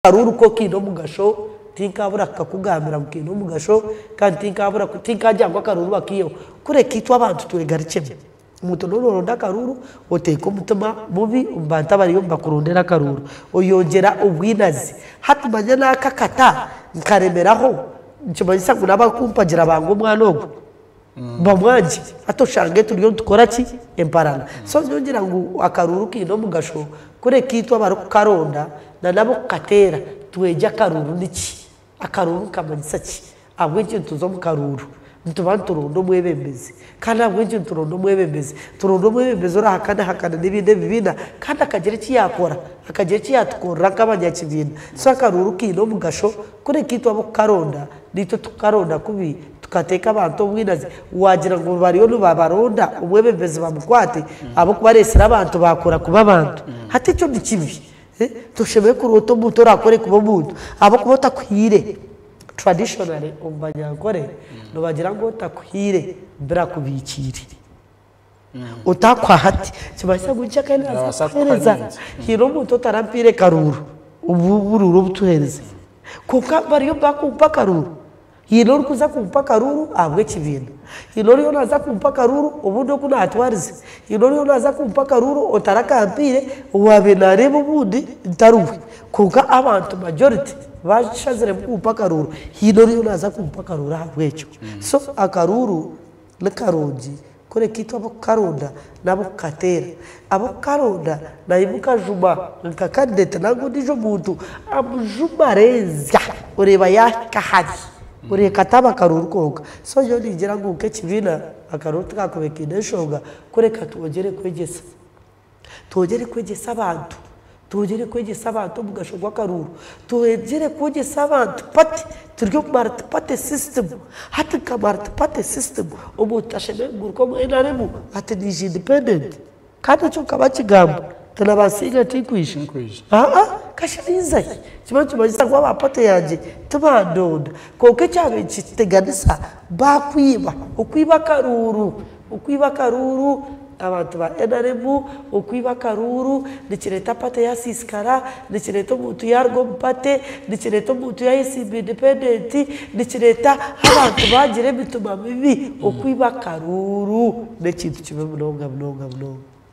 Hariho oruka okiine omugasho, tinkaabura kukakugambira ngu kaine omugasho, kandi tinkaabura ku, tinkaagira ngu akaruuru bakaiheho. Kureka itwe abantu twegarikyemu. Omuntu n'obu nooronda akaruuru, oteeka omutima mubi omu bantu abariyo nibakurondera akaruuru. Oyongyera obwinazi. Hati manya naaka akata, nkaremeraho, nikimanyisa ngu n'abarikumpagira banga omwana ogwo? bamwangye hati oshange turiyo nitukora ki emparana so nyowe ngira ngu akaruuru kaine omugasho kureka itwe abarikukaronda nana ab'okukateera twegye akaruuru niki, akaruuru nikamanyisa ki ahabw'enki nituza omu karuuru nituba nituronda omwebembezi kandi ahabw'enki nituronda omwebembezi nituronda omwebembezi orahakanahakana n'ebindi ebibiina kandi akagira eki yaakora akagira eki yaatukorera nk'abanyakibiina so akaruuru kaine omugasho kureka itwe ab'okukaronda beitu tukaronda kubi tukateeka abantu obwinazi wagira ngu bariyo nibabaronda omwebembezi bamukwate ahabwokuba aresire abantu bakora kuba abantu hati ekyo nikibi toshemereire kuroota omuntu orakore kuba omuntu ahabwokuba otakuhaire traditionally omu banyankore nibagira ngu otakuhaire birakubikiire. otakuha hati kibaasa kugya kandi nabaasa kuhereza haine omuntu otarampaire karuuru obu oburuuru obu tuhereza kwonka bariyo bakumpa akaruuru haine orikuza kumpa akaruuru ahabw'ekibiina haine oriyo naza kumpa akaruuru obundi oku natwarize haine oriyo naza kumpa akaruuru otarakampaire owaabaire nareeba obundi ntari we kwonka abantu majority bashaziremu kumpa akaruuru haine oriyo naza kumpa akaruuru ahabw'ekyo so akaruuru. Ni karungi kureka itwe ab'okukaronda n'ab'okukateera. Ab'okukaronda naimuka juma nka kadideti nari ondiijo muntu amujuma areenzya oreeba yaahika hare oreeka ati abakaroori kwonka. So nyowe ningira ngu nk'ekibiina akaroori tikaakube kaine enshonga kureka twongyere kwegyesa. Twongyere kwegyesa abantu, twongyere kwegyesa abantu omugasho gw'akaruuru, twongyere kwegyesa abantu pati turi omu mariti pati sisitimu, hati nka mariti pati sisitimu omuntu tashemereire kuguruka omu nrm ati naija indipendenti kandi ekyo nkaba nkigamba nti nabansinga tinkwija aa kasha ninza hi nikyo nikimanyisa ngu aba pati yangye tibandonda kwonka ekyabaire nikiteganisa bakwiba, okwiba akaruuru Okwiba akaruuru, Abantu ba nrm okwiba akaruuru nikireeta pate yaasiisikara, nikireeta omuntu yaaruga omu pate, nikireeta omuntu yaayesimba indipendenti, nikireeta abantu baagira emitima mibi. Okwiba akaruuru n'ekintu kibi munonga munonga munonga.